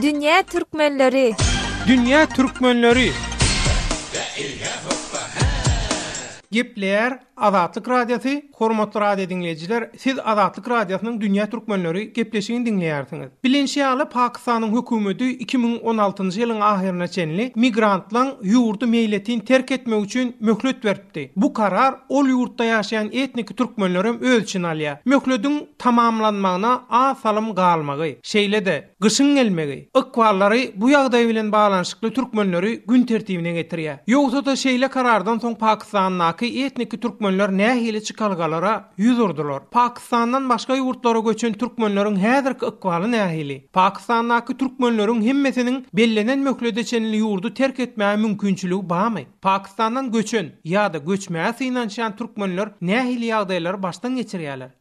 Dünýä türkmenleri. Dünýä türkmenleri. Gepleýär Azatlyk Radiosy, hormatly radio diňleýjiler, Siz Azatlyk Radiosynyň Dünýä Türkmenleri gepleşigini diňleýärsiňiz. Bilinşi ýaly, Pakistanyň hökümeti iki müň on altynjy ýylyň ahyryna çenli migrantlaň ýurdy meýletin terk etmegi üçin möhlet beripdi. Bu karar ol ýurtda ýaşaýan etniki türkmenlerem öz içine alýar. Möhlediň tamamlanmagyna az salym galmagy, şeýle-de, Gyşyň gelmegi, ykballary bu ýagdaý bilen baglanyşykly türkmenleri gün tertibine getirýär. Ýogsa-da şeýle karardan soň Pakystandaky etniki türkmenler nähili çykalgalara ýüz urdular? Pakystandan başga ýurtlara göçen türkmenleriň häzirki ykbaly nähili? Pakystandaky türkmenleriň hemmesiniň bellenen möhlede çenli ýurdy terk etmäge mümkinçiligi barmy? Pakystandan göçen ýa-da göçmäge synanyşýan türkmenler nähili ýagdaýlary başdan geçirýärler?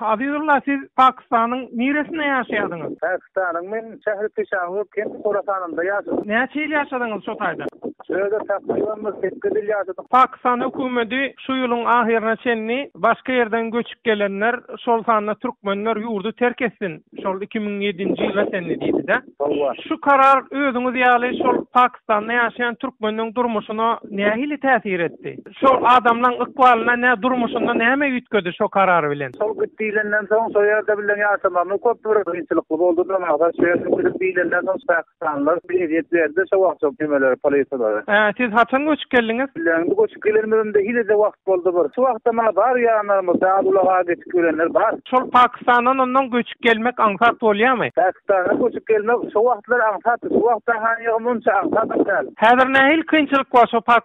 Azizulla siz Pakistanyň niresinde ýaşaýadyňyz? Pakistanyň men şähri Pişawur kenti Horasanynda ýaşadym. Näçe ýyl ýaşadyňyz şo taýda? Şu ýerde takryban bir sekiz ýyl ýaşadym. Pakistan hökümeti şu ýylyň ahyryna çenli başga ýerden göçüp gelenler, şol sanda türkmenler ýurdy terk etsin, şol iki müň ýedinji ýyla çenli diýdi-dä. Howwa. Şu karar özüňiz ýaly şol Pakistanda ýaşaýan türkmeniň durmuşyna nähili täsir etdi? Şo adamlaň ykbalyna nä durmuşynda näme üýtgedi şo karar bilen. Şol gyt diýlenden soň şo ýerde bilen ýaşamamy köp bir kynçylykly boldy da magtap şo ýerde çürüp diýlenden soň pakistanlylar bir ezýet berdi şo wagt şo kemelere polisalary. Ää siz haçan göçüp geldiňiz? Bile indi göçüp gelenimizimde hilede wagt boldy bir. Şo wagtam maňa bar ýanlarymyz dal ulaga geçip görenler bar. Şol pakistandan ondan göçüp gelmek aňsat bolýamy? Pakistandan göçüp gelmek şo wagtlar aňsatdy şo wagta hany munça aňsat dal. Häzir nähili kynçylyk bar şo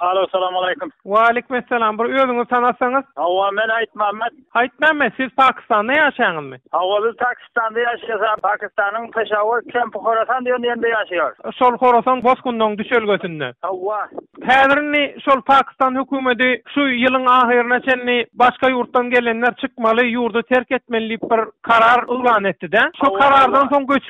Alo, Salamaleýkum. Waleýkumessalam. Bir özüňizi tanatsaňyz? Hawa, men Aýtmämmet. Aýtmämmet, siz Pakistanda ýaşaýaňyzmy? Hawa, biz Pakistanda ýaşaýas. Pakistanyň Peşawar kempi Horasan diýen ýerde ýaşaýarys. Şol Horasan bosgunynyň düşelgesinde. Hawa. Häzir indi şol Pakistan hökümeti şu ýylyň ahyryna çenli başga ýurtdan gelenler çykmaly, ýurdy terk etmeli diýip bir karar yglan etdi-dä. Şo karardan soň göçüp.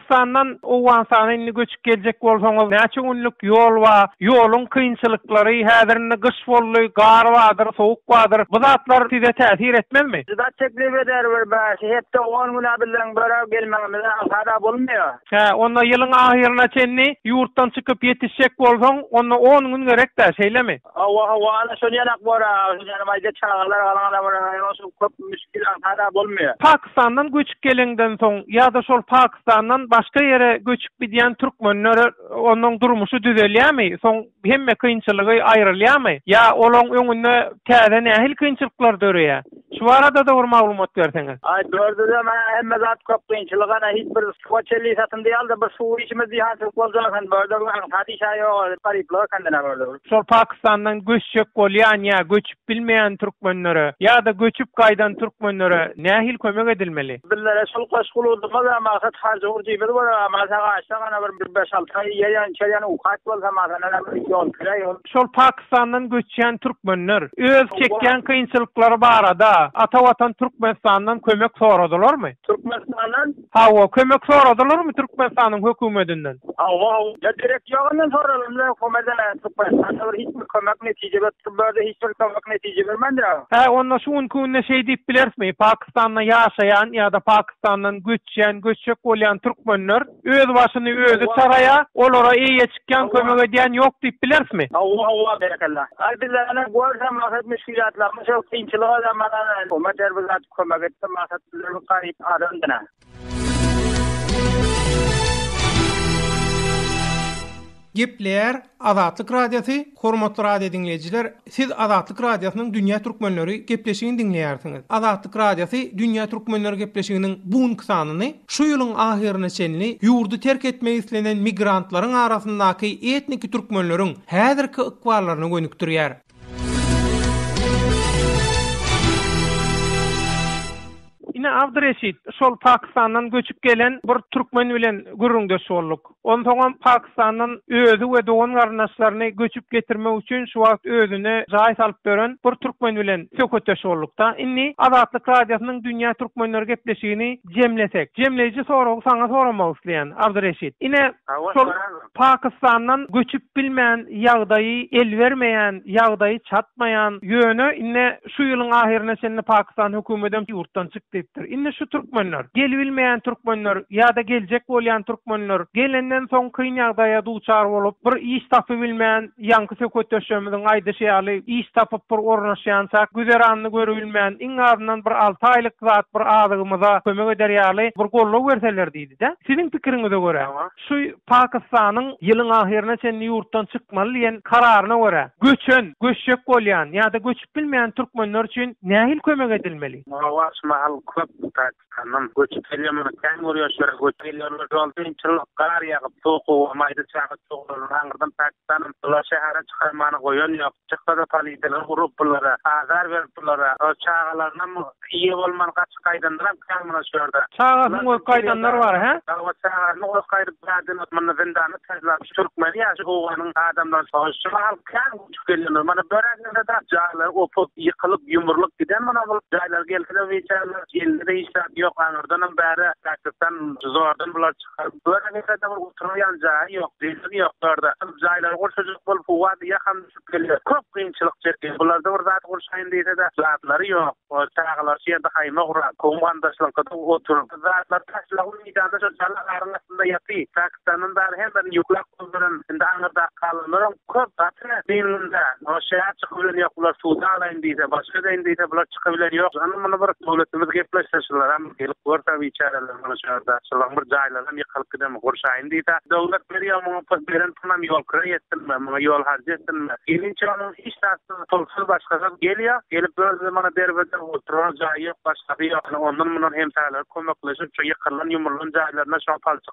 Türküstandan Owganystana indi göçüp geljek bolsaňyz näçe günlük ýol bar, ýoluň kynçylyklary, häzir indi gyş boldy, gar bardyr, sowuk bardyr, bu zatlar size täsir etmezmi? Juda teklip eder bir bäş hepde on güne biziň börä gelmegimize alhada bolmaýar. Hä, onda ýylyň ahyryna çenli ýurtdan çykyp ýetişjek bolsaň, onda on gün gerekdä, şeýlemi? Hawa, hawa, ana şol ýanak bor-a, şol ýanak aýda çagalar galan-a bir aýal bolsa köp müşgil aňsat-a bolmaýar. Pakistandan göçüp gelenden soň ýa-da şol Pakistandan başga ýere göçüp gidýän türkmenler onuň durmuşy düzelýärmi? Soň hemme kynçylygy aýrylýarmy? Ýa olaň öňünde täze nähili kynçylyklar döreýär? Şu baradada bir maglumat berseňiz. Aý dördüzem hä hemme zat köp kynçylyk ana hiç bir suwa çelli satyn diýal da bir suwy içimiz diýhançylyk boljak eken börde bu hadyş şa ýoga garyplyga kendine börde. Şol pakistandan göçjek bolýan ýa göçüp bilmeýän türkmenlere ýada göçüp gaýdan türkmenlere nähili kömek edilmeli. Bizlere şol goşgy uludymyz a maksat harjy hurjymyz bolar a maşa gaçsak ana bir bir beş alty aý ýerýan içerýän ukat bolsa maşa nana bir ýol kire ýol. şol Pakistandan göçýän türkmenler öz çekýän kynçylyklary barada ata watan Türkmenistandan kömek soradylarmy? Türkmenistandan? Hawa, kömek soradylarmy Türkmenistanyň hökümedinden? Hawa, hawa, gerek ýok ondan soralyna, komada Türkmenistanda bir hiç bir kömek netije berip durmady, hiç bir kömek netije bermändir agam. Hä, onda şu günki günde şeý diýip bilerismi, Pakistanda ýaşaýan ýa-da Pakistandan göçýän, göçjek bolýan türkmenler Öz başyny özi çaraýa, olara eýeçikjan kömek edýän ýok diýip bilersmi? Hawa, hawa, berekella. Aý bizlerem görsem maksat müşgilýatlarymyz şo kynçylyga da mana Ummet her bir zat kömek etdi maksat bizlerem garyp adam dine. Gepleýär Azatlyk Radiosy, Hormatly radio diňleýjiler, siz Azatlyk Radiosynyň Dünýä Türkmenleri gepleşigini diňleýärsiňiz. Azatlyk Radiosy Dünýä Türkmenleri gepleşiginiň bu günki sanyny şu ýylyň ahyryna çenli ýurdy terk etmek islenen migrantlaryň arasyndaky etniki türkmenleriň häzirki ykballaryna gönükdirýär. Ine, Abdyreşit, şol Pakystandan göçüp gelen bir türkmen bilen gürrüňdeş bolduk. Onsoňam Pakystandan özi we dogan-garyndaşlaryny göçüp getirmek üçin şu wagt özüne jaý salyp dören bir türkmen bilen söhbetdeş bolduk-da. Indi Azatlyk Radiosynyň Dünýä türkmenleri gepleşigini jemlesek. Jemleýji soragy saňa soramak isleýän, Abdyreşit. Ine, şol Pakistandan göçüp bilmän ýagdaýy el bermeýän, ýagdaýy çatmaýan, ýöne indi şu ýylyň ahyryna çenli Pakistan hökümetem ýurtdan çyk diýipdir. Indi şu türkmenler, gelibilmeýän türkmenler ýa-da geljek bolýan türkmenler gelenden soň kyn ýagdaýa duçar bolup, bir iş tapybilmän, ýaňky söhbetdeşlerimiziň aýdyşy ýaly iş tapyp bir ornaşýançak güzeranyny görübilmän, iň azyndan bir alty aýlyk zat bir azygymyza kömek eder ýaly bir goldaw berseler diýdi-dä. Siziň pikiriňize görä? Şu Pakistanyň ýylyň ahyryna çenli ýurtdan çykmaly diýen kararyna görä, göçen, göçjek bolýan ýa-da göçüp bilmeýän türkmenler üçin nähili kömek edilmeli? Hawa, şu mahal köp Pakistandan göçüp gelýän, muny kän görýäs, şu ýere göçüp gelýärler. Şol kynçylyk, gar ýagyp, sokuga, maýda çaga çogalaryny aňyrdan Pakistanam bular şähere çykarmana goýan ýok. Çyksa-da poliseler urup bulara, azar berip bulara. O çagalarynam eýe bolman gaçyp gaýdandyram kärmana şu ýerde. Çagasyny goýup gaýdanlar bar, hä? Hawa, çagasyny goýup gaýdyp bärden ot munda zyndanda täzlap şu türkmeni ýa şu owganyň adamlaryny soýup şu mahal kän göçüp gelýänler. Mana böränlerde-de jaýlary opup, ýykylyp, ýumrulyp giden muna bul jaýlar gelse-de biçäreler geldi-de hiç zat ýok aňyrdanam bäri Pakistan zordan bular Bularda nesede bir oturylýan jaýy ýok, zeýnemi ýok bularda. Biz jaýlary gurşajak bolup howady ýakam düşüp gelýär. Köp kynçylyk çekýär. Bularda bir zat gurşaýyn diýsede zatlary ýok. Çagalar şu ýerde haýma guran, goňum-gandaşlaryňkyda oturyp, zatlary taşlap meýdanda şo jala garyň astynda ýatyr. Pakistandan dagy hemmerini ýüklap. Şol bilen indi aňyrdaky halylaram köp gaty biynunda. Ol şäher çykybilen ýok, bular suda alaýyn diýse, başga edeýin diýse, bular çykybilen ýok. Hany muny bir döwletimiz gepleşse, şularam gelip görse biçäreler muny şu ýerde. Şulaň bir jaýlaram ýykylyp giden, gurşaýyn diýse. Döwlet berýär muňa pul, beren pulynam ýol kira ýetsinmi, muňa ýol harjy ýetsinmi? Gelinçä onuň hiç zadysyz, pulsyz, başgasyz gelýär. Gelip özüne muny derbedew oturar jaýy ýok, başgasy ýok. Hany ondan-mundan hemsäleri kömekleşip, şu ýykylan, ýumrulan jaýlaryna şoň palçyk.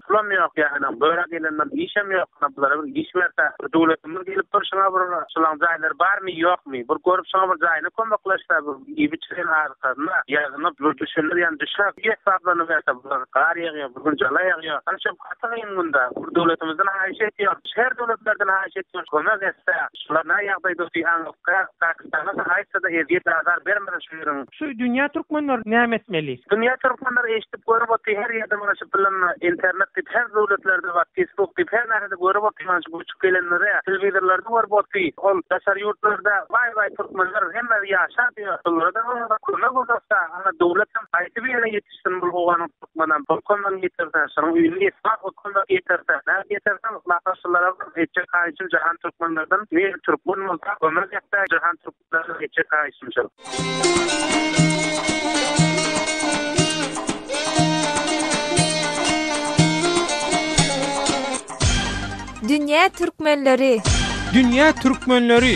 Pulam ýok ýaýynyň börä gelenden işem ýok ana bulara bir iş berse bir döwletimiz gelip dur şuňa bir şulaň jaýlary barmy ýokmy bir görüp şuňa bir jaýyny kömekleşse bir iýip içiren azykasyna ýazyna bir düşendir ýan düşer bir hesaplanyp berse bular gar ýagýa bir gün jala ýagýa ana şo gaty gyn günde bir döwletimizden haýyş etýän şer döwletlerden haýyş etýän kömek etse şular näýagdaýda diýän Ýaňyja haýsy-da ezýet-azar bermedi şu ýeriň. Şu dünýä türkmenler näme etmeli? Dünýä türkmenler eşdip görüp otyr her ýerde muny şu pylyn internet diýip her döwletlerde bar fisbuk diýip her närede görüp otyr muny şu göçüp gelenlere telewizorlarda görüp otyr ol daşary ýurtlarda waý waý türkmenler hemme ýaşap ýör şulara-da kömek uzatsa ana döwletem haýsy bir ýere ýetiş Sunbul howanyň türkmenden bolkandan getirse, şonuň öýüni esbap bolkandan getirse, nädip getirsin? Naharçylara bir etjek haýyşym Jahan türkmenlerden, men türkmen bolsam, kömür depdä, Jahan türkmenlerden etjek haýyşym şol. Dünýä türkmenleri! Dünýä türkmenleri!